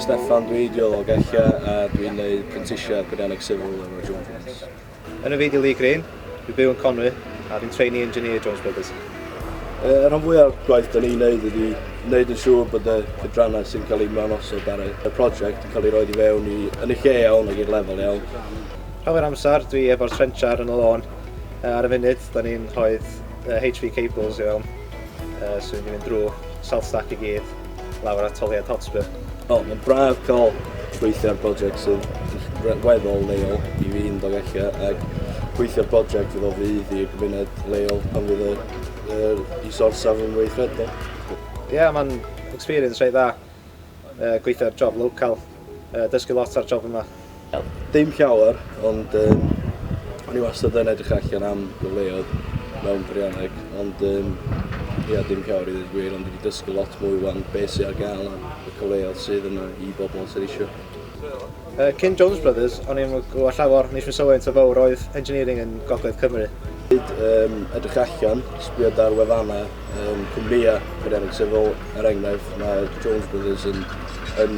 Steffan, dwi Diol o Gella a dwi'n neud prentisiad Peirianneg Sifil efo Jones Brothers. Enw fi di Lee Green, dwi'n byw yn Conwy a dwi'n trainee engineer Jones Brothers. Y rhan fwy o'r gwaith da ni'n neud ydi neud yn siŵr bod y cydrannau sy'n cael ei mewn osod ar y prosiect yn cael ei roed i fewn i yn y lle iawn ac i'r lefel iawn. Llawer amser dwi efo'r trenchar yn y lôn. Uh, ar y funud, da ni'n rhoi uh, HV cables i fewn. Uh, so ni'n mynd drwy salt stack i gyd, lawr at toliad hotspur. O, oh, mae'n braf cael gweithio ar brosiect sy'n weddol leol i fi yn dod allu ac gweithio ar brosiect fydd o fydd i'r gymuned leol pan fydd y, y, i sorsaf yn weithredol. Ie, yeah, mae'n experience rhaid dda. Yy gweithio ar job local. Yy dysgu lot ar job yma. Wel, dim llawer, ond yym o'n i wastad yn edrych allan am gyfleoedd mewn peirianneg, ond yym ia, dim llawer i ddeud y gwir, ond dwi 'di dysgu lot mwy 'wan be' sy ar gael a y cyfleoedd sydd yna i bobl sydd isio. Yy, cyn Jones Brothers, o'n i'm yn gwybod llawer, nes mi sylwi faint o fawr oedd engineering yn gogledd Cymru. Hyd um, edrych allan, sbio ar wefannau um, cwmnïau Cymreig, sef fel er enghraifft mae Jones Brothers yn, yn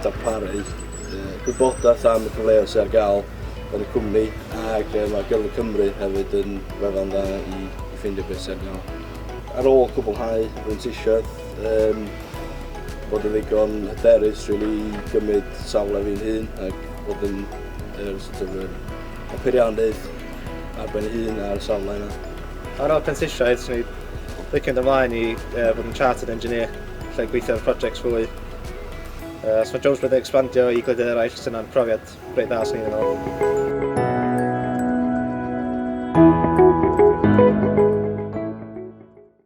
darparu uh, gwybodaeth am y cyfleoedd sydd ar gael yn y cwmni ac uh, mae Gyrfa Cymru hefyd yn wefan dda i, i ffeindio beth sydd ar gael. Ar ôl cwblhau brentisiaeth, um, bod yn ddigon hyderus rili i gymryd safle fi'n hun ac bod yn yr sort of yr y peiriannydd ar ben hun ar y safle yna. Ar ôl prentisiaeth, swn i licio mynd ymlaen i uh, fod yn chartered engineer, lle gweithio ar projects fwy. Uh, os mae jobs wedi expandio i gwledydd eraill, sy'n yna'n profiad reit dda swn i'n meddwl.